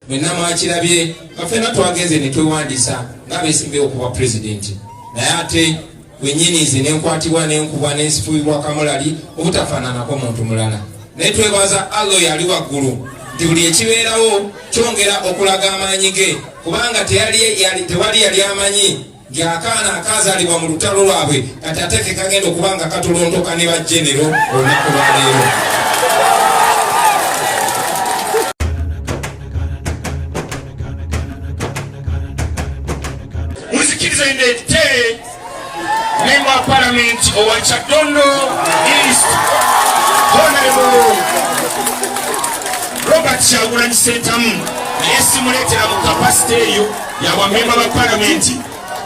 mwenna mwakirabye nga fena twagenze netwewandiisa nga besimbewo okuba pulezidenti naye ate wenyini nze nenkwatibwa nenkubwa nensifuyibwa kamulali obutafaananako muntu mulala naye twebaza allah oyo ali waggulu nti buli ekibeerawo kyongera okulaga amaanyi ge kubanga tewali yali amanyi ng'akaana akaazaalibwa mu lutalo lwabwe kati ate ke kagenda okuba nga katolontoka ne bajenero olunaku lwaleero muzikiriza ndete memba wa palamenti owa kyadondo east honorable robert kyagulanyi sentamu naye simuleetera mu kapasite eyo yabamemba ba palamenti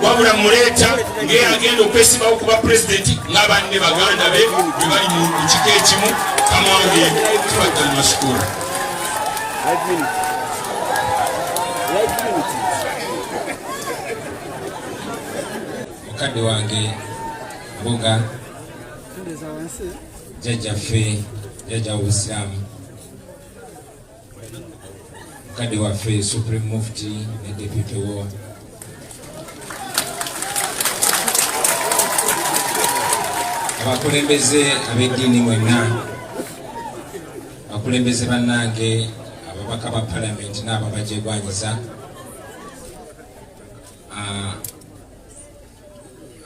wabula muleeta ng'eyagenda okwesibawo kuba pulezidenti ng'abanne baganda be bwe bali mu kika ekimu kamange tibaddamu masukuula mukadde wange mbuga jjajjaffe jjajja w'obusiraamu mukadde waffe supreme mufti ne deputy wo abakulembeze ab'eddiini mwenna abakulembeze bannange ababaka ba palamenti n'ababajegwanyiza ah,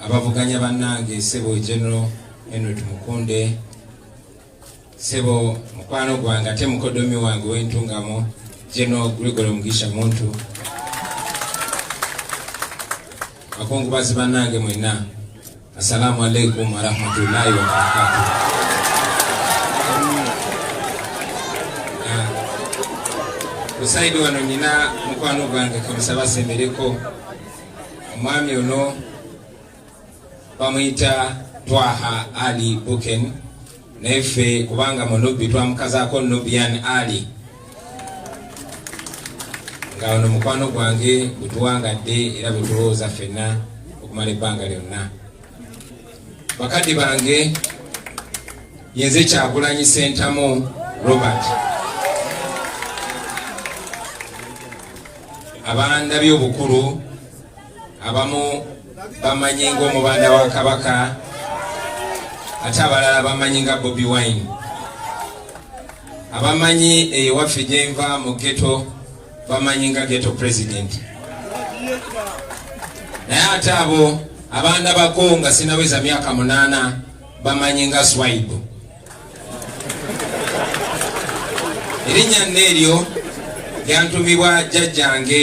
abavuganya bannange sebo general henry tumukunde sebo mukwano gwange ate mukodomi wange wentungamo jeno gregory mugisha muntu bakungubazi banange mwena assalamu alaikum warahmatullahi wabarakatu kusaidi ah, wano nyina mukwano gwange kamusaba sembereko omwami ono bamuyita twaha ali buken naye ffe kubanga munubbi twamukazaako nubian ali nga ono mukwano gwange bwetuwangadde era bwetulowooza ffenna okumala ebbanga lyonna bakadde bange yenze kyagulanyi sentamu robert abandabye obukulu abamu bamanyi ng'omubanda wa kabaka ate abalala bamanyi nga bobi wine abamanyi eyewaffe gyenva mu geto bamanyi nga geto president naye ate abo abaana bako nga sinaweza myaka munaana bamanyi nga swaibu erinnya nna eryo lyantumibwa jjajjange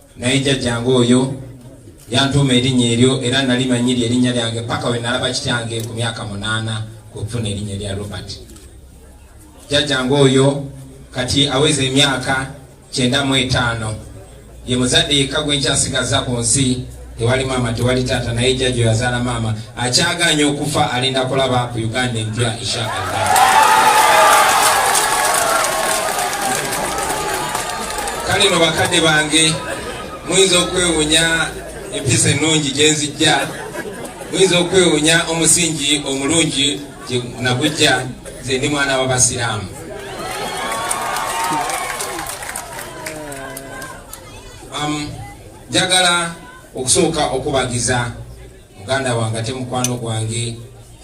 naye jjajjange oyo yantuuma erinnya eryo era nali manyi lye erinnya lyange paka we nalaba kityange ku myaka munaana kwekufuna erinnya erya robert jjajjange oyo kati aweza emyaka kyenda mu etaano ye muzadde yekka gwenkyasigaza ku nsi tewali maama tewali taata naye jjaja oyazaala maama akyagaanya okufa alinda kulaba ku uganda empya inshaallah kale no bakadde bange muyinza okwewunya empisa ennungi gyenzijja muyinza okwewunya omusingi omulungi nagujja nze ndi mwana wabasiraamu um, Njagala okusooka okubagiza muganda wange ate mukwano gwange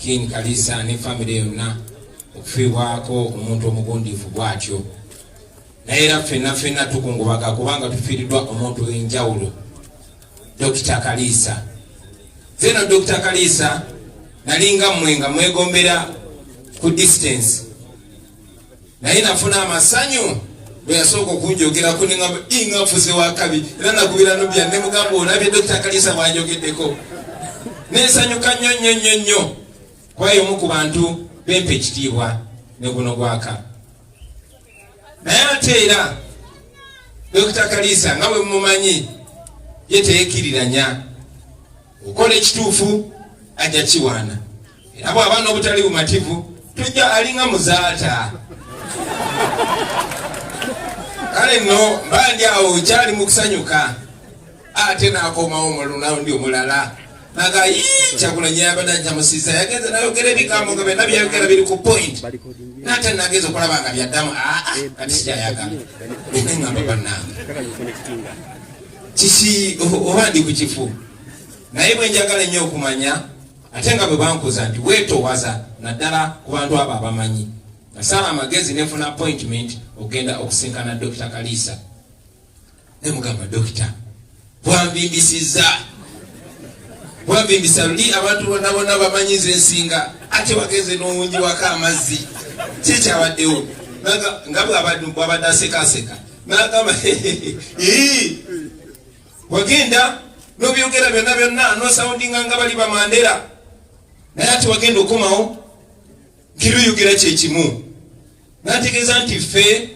King Kalisa ne famire yonna okufiibwako omuntu omugundiivu bw'atyo naye era ffenna ffenna tukungubaga kubanga tufiiriddwa omuntu w'enjawulo Dokita Kalisa zeno Dokita Kalisa nalinga mmwe nga mwegombera ku distance naye nafuna amasanyu bwe yasooka okunjogerako neŋamba inga nfuze wakabi era nagubira nobya ne mugamba olabye dokita kalisa bwanjogeddeko nensanyuka nnyo nnyo nnyo nnyo kwayo omu ku bantu bempa ekitiibwa ne guno gwaka naye ate era dokita kalisa nga bwe mumumanyi ye teyekiriranya okola ekituufu ajja kiwaana era bw'aba n'obutali bumativu tujja alinga muzaata kale nno mba ndi awo kyali mu kusanyuka ate n'akomawo mu lunaundi omulala naga yii kyakulanye yabadde njamusiza yagenze nayogera ebigambo nga byonna byayogera biri ku point nate nagenza okulaba nga byaddamu aa ah, ah, kati sikyayagala ngamba bannange kiki oba ndi ku kifu naye bwe njagala ennyo okumanya ate nga bwe bankuza nti weetowaza naddala ku bantu abo abamanyi nasala amagezi nefuna appointment okugenda okusinkana dokita kaliisa ne mugamba dokita bwambimbisizza bwambimbisa luli abantu bonna bonna bamanyiza ensinga ate wagenze n'owungi wako amazzi kyekyabaddewo nga bwabadde asekaseka nagamba ii wagenda nobyogera byonna byonna nosaundinga nga bali bamandera naye ati wagenda okomawo ntiruyogera kyekimu nategeeza nti ffe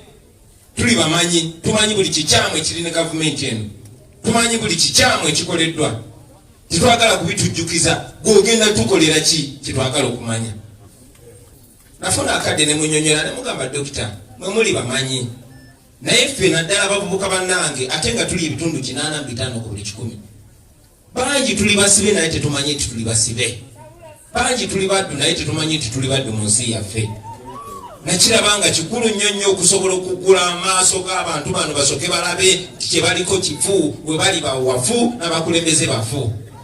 tuli bamanyi tumanyi buli kikyamu ekiri ne gavumenti eno tumanyi buli kikyamu ekikoleddwa tetwagala kubitujjukiza gweogenda tukolera ki kyetwagala okumanya nafuna akadde ne munyonyola ne mugamba dokita mwe muli bamanyi naye ffe naddala abavubuka bannange ate nga tuli ebitundu kinaana mu bitaano ku buli kikumi bangi tuli basibe naye tetumanyi nti tuli basibe bangi tuli baddu naye tetumanyi nti tuli baddu mu nsi yaffe nakiraba nga kikulu nnyo nnyo okusobola okugula amaaso g'abantu bano basoke balabe nti kyebaliko kifu we bali bawafu n'abakulembeze bafu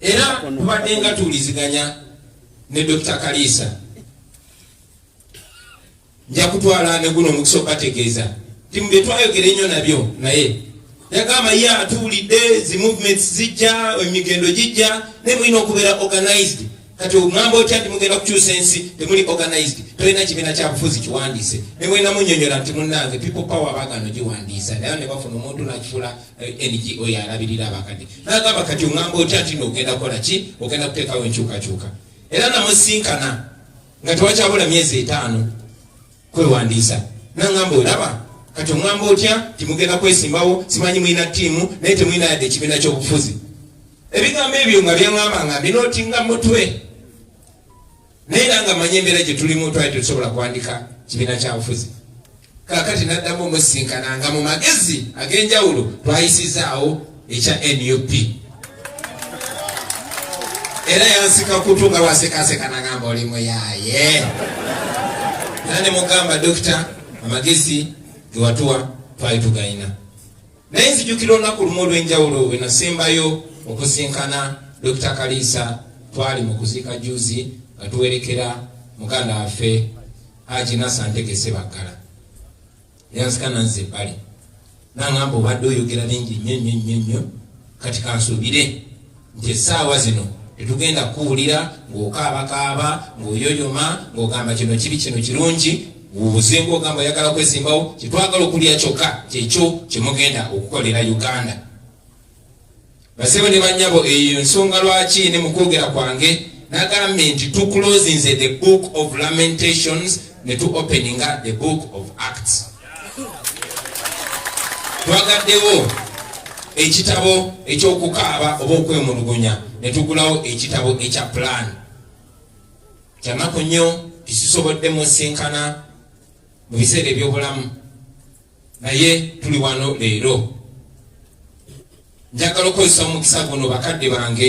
era tubadde nga tuwuliziganya ne Dr. Kaliisa nja kutwala ne guno omukisa okubategeeza ti mu bye twayogera ennyo nabyo naye yagamba ye atuwulidde zi movements zijja emigendo gijja naye mulina okubeera organized kati ogamba otya nti mugenda kukyusa ensi temuli organized tolina kibiina kyabufuzi kiwandiise ne mulina munyonyola nti munnange people power bagano giwandiisa naye ne bafuna omuntu nakifuula NGO yalabirira abakadde nagamba kati ongamba otya nti nogenda kola ki ogenda kuteekawo enkyukakyuka era namusinkana nga tewakyabula myezi etaano kwewandiisa nangamba olaba kati ongamba otya timugenda kwesimbawo simanyi mulina tiimu naye temulina yadde ekibiina kyobufuzi ebigambo ebyo nga byengamba nga mbinotinga mutwe naye era nga manya embeera gye tulimu twali tetusobola kwandika kibiina kya bufuzi kakati naddamu omusinkana nga mu magezi ag'enjawulo twayisizaawo ekya nup era yansika kutu nga wasekaseka nagamba oli muyaye era ne mugamba dokita amagezi gewatuwa twali tugalina Naye nzijukira olunaku lumu olw'enjawulo bwe nasembayo okusinkana Dokita Kaliisa twali mu kuziika juzi nga tuwerekera muganda waffe Haji Nasa Ntegese Baggala yanzika nanze ebbali nangamba obadde oyogera bingi nnyo nnyo nnyo nnyo kati kansuubire nti essaawa zino tetugenda kukuwulira ng'okaabakaaba ng'oyoyoma ng'ogamba kino kibi kino kirungi wubuzinga ogamba oyagala kwesimbawo kyetwagala okulya kyokka kyekyo kyemugenda okukolera uganda basebo ne banyabo eyo nsonga lwaki ne mukwogera kwange nagambye nti tuclosinze the book of lamentations ne tuopeninga the book of acts twagaddewo ekitabo ekyokukaaba oba okwemulugunya netugulawo ekitabo ekya plan kyanaku nnyo tisisobodde musinkana mu biseera ebyobulamu naye tuli wano leero njagala okukozesa omukisa guno bakadde bange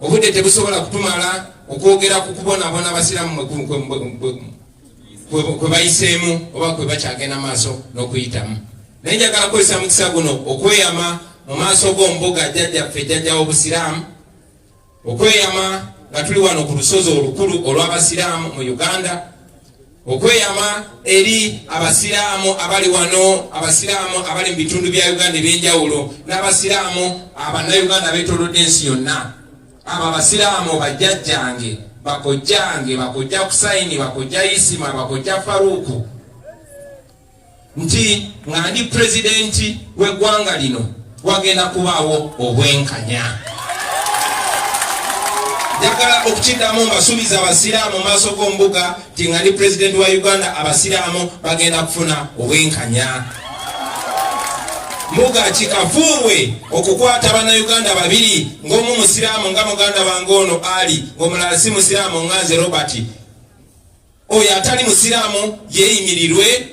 Obudde tebusobola kutumala okwogera ku kubonaabona abasiraamu kwe bayiseemu oba kwe bakyagenda maaso n'okuyitamu naye njagala kukozesa mukisa guno okweyama mu maaso g'ombuga jjajjaffe jjajja w'obusiraamu okweyama nga tuli wano ku lusozi olukulu olw'abasiraamu mu uganda okweyama eri abasiraamu abali wano abasiraamu abali mu bitundu bya uganda ebyenjawulo n'abasiraamu abannayuganda betolodde ensi yonna abo abasiraamu bajjajjange bakojjange bakojja kusaini bakojja isima bakojja faruuku nti nga ndi pulezidenti w'eggwanga lino wagenda kubaawo obwenkanya njagala okukiddamu mbasuubiza abasiraamu maaso g'ombuga nti nga ndi pulezidenti wa uganda abasiraamu bagenda kufuna obwenkanya mbuga kikafuuwe okukwata bannayuganda babiri ng'omu musiraamu nga muganda wange ono ali ng'omulala si musiraamu nganze robert oyo atali musiraamu yeeyimirirwe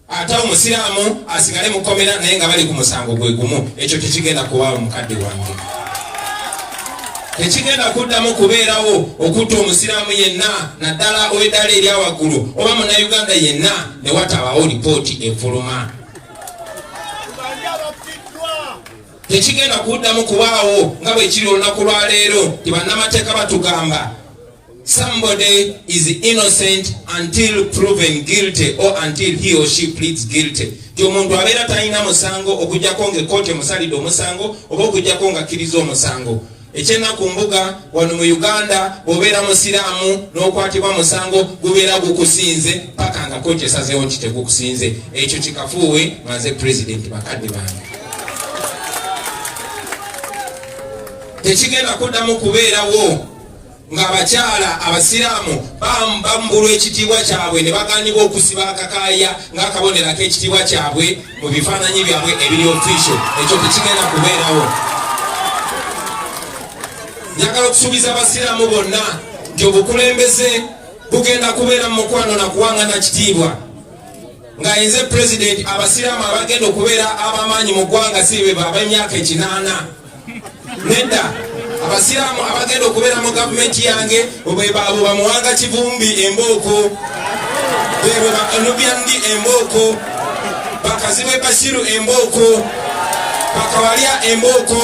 ate omusiraamu asigale mukomera naye nga bali ku musango gwe gumu ekyo tekigenda kuwaawo mukadde wange tekigenda kuddamu kubeerawo okutta omusiraamu yenna naddala ow'eddaala erya waggulu oba munauganda yenna ne watabawo lipooti efuluma tekigenda kuddamu kubaawo nga bwekiri olunaku lwaleero ti bannamateeka batugamba Somebody is innocent until proven guilty or until he or she pleads guilty. Ti omuntu abeera talina musango okujjako nga ekkooti emusalidde omusango oba okujjako nga akkiriza omusango. Ekyennaku mbuga wano mu Uganda bw'obeera musiraamu n'okwatibwa musango gubeera gukusinze paka nga kkooti esazeewo nti tegukusinze. Ekyo kikafuuwe manze pulezidenti bakadde bange. Tekigenda kuddamu kubeerawo. ng'abakyala abasiraamu bambulwa ekitiibwa kyabwe ne bagaanibwa okusiba akakaaya ng'akabonero ak'ekitiibwa kyabwe mu bifaananyi byabwe ebiri ofiisho ekyo tekigenda kubeerawo njagala okusuubiza abasiraamu bonna nti obukulembeze bugenda kubeera mu mukwano na kuwangana kitiibwa nga yenze pulezidenti abasiraamu abagenda okubeera abamaanyi mu ggwanga si bebab'emyaka ekinaana nedda abasiraamu abagenda okubeera mu gavumenti yange bwebaabo bamuwanga kivumbi embooko bebwe banubyandi embooko bakazibwe basiru embooko bakawalya embooko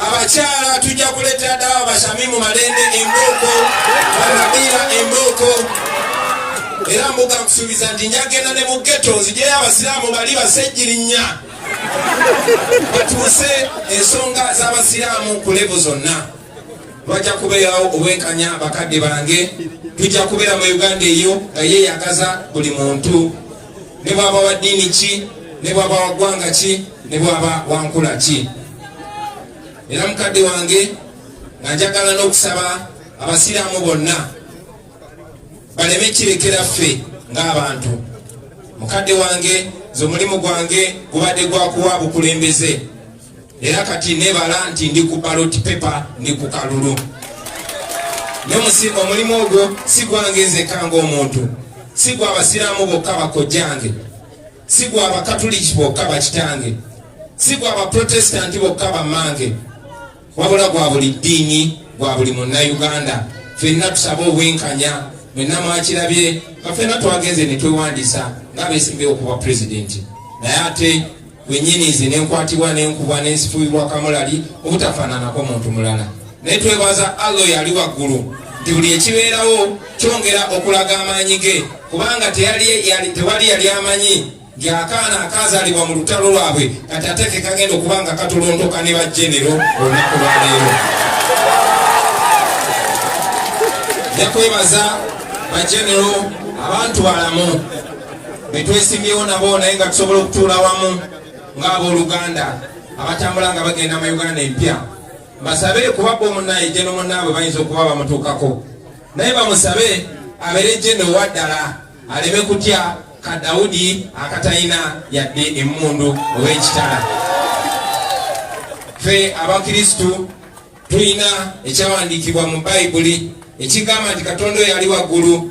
abakyala tujja kuleetera ddala basami mu malende embooko banabiira embooko era mbuga nkusuubiza nti njagenda ne mu geto nzijeyo abasiraamu bali basejjirinya batuuse ensonga z'abasiraamu ku levu zonna bajja kubeerawo obwenkanya bakadde bange tujja kubeera mu uganda eyo nga yeeyagaza buli muntu ne bwaba wa ddiini ki ne bwaba wa ggwanga ki ne bwaba wa nkula ki era mukadde wange nga njagala n'okusaba abasiraamu bonna baleme kirekera ffe ng'abantu mukadde wange nze omulimu gwange gubadde gwakuwa bukulembeze era kati nebala nti ndi ku baloti pepa ndi ku kalulu omulimu ogwo si gwange nzeka ngaomuntu si gwa abasiraamu bokka bakojjange si gwa abakatuliki bokka bakitange si gwa abaprotestanti bokka bammange wabula gwa buli ddiini gwa buli munnayuganda fenna tusaba obwenkanya mwenna mwakirabye nga fenna twagenze ne twewandisa nga beesimbyewo okuba pulezidenti naye ate wenyinizi nenkwatibwa nenkubwa nensifuyibwa kamulali obutafaananako muntu mulala naye twebaza allah oyo ali waggulu nti buli ekibeerawo kyongera okulaga amaanyi ge kubanga tewali yali amanyi nti akaana akaazalibwa mu lutalo lwabwe kati ate ke kagenda okuba nga katolondoka ne bajenero olunaku lwaleero ja kwebaza bajenero abantu balamu betwesimyewo nabo naye nga tusobola okutuula wamu ng'abooluganda abatambula nga bagenda mu uganda empya basabe kuba bomunaye jeno munaabwe bayinza okuba bamutuukako naye bamusabe abeere jeno waddala aleme kutya ka dawudi akatalina yadde emmundu oba ekitala ffe abakristu tulina ekyawandiikibwa mu bayibuli ekigamba nti katonda oyo ali waggulu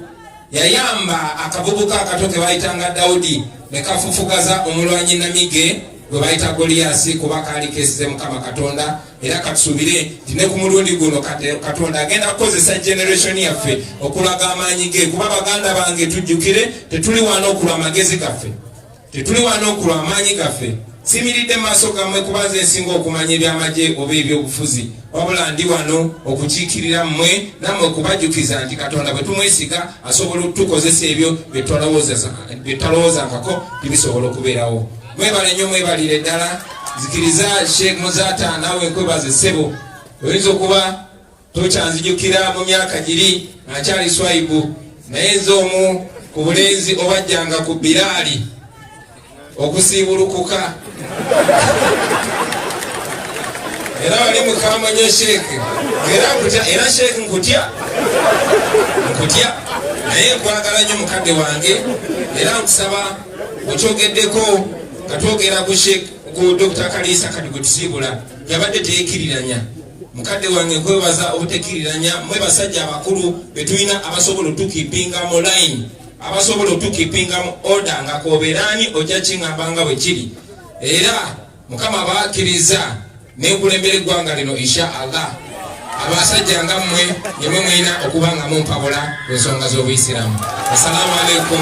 yayamba akavubuka akato ke bayitanga dawudi ne kafufugaza omulwanyi namige gwe bayita goliyasi kuba kaali kesize mukama katonda era katusuubire nti ne ku mulundi guno katonda agenda kukozesa generation yaffe okulaga amaanyi ge kuba baganda bange tujjukire tetuli wana okulwa amagezi gaffe tetuli wana okulwa amaanyi gaffe simiridde maaso gammwe kuba nze nsinga okumanya ebyamagye oba ebyobufuzi wabula ndi wano okukiikirira mmwe nammwe okubajjukiza nti katonda bwe tumwesiga asobola okutukozesa ebyo bye talowozangako nti bisobola okubeerawo Mwebale nyo mwebalire ddala nzikiriza Sheikh Muzata naawe nkwebaze ssebo oyinza okuba tokyanzijukira mu myaka giri nakyali swaibu naye nze omu ku bulenzi obajjanga ku biraali okusiibulukuka era wali mukamanyo sheikh era sheikh nkutya nkutya naye nkwagala nyo mukadde wange era nkusaba okyogeddeko nga twogera ku sheik ku dr kaliisa kati gwe tusiibula yabadde teyekiriranya mukadde wange nkwebaza obutekiriranya mwe basajja abakulu betulina abasobola otukipinga mu line abasobola otukipinga mu order nga koberaani ojja kingamba nga bwe kiri era mukama bakiriza nekulembera eggwanga lino insha allah abasajja nga mmwe nemwe mulina okuba nga mumpabula ku nsonga z'obuyisiramu assalamu alaikum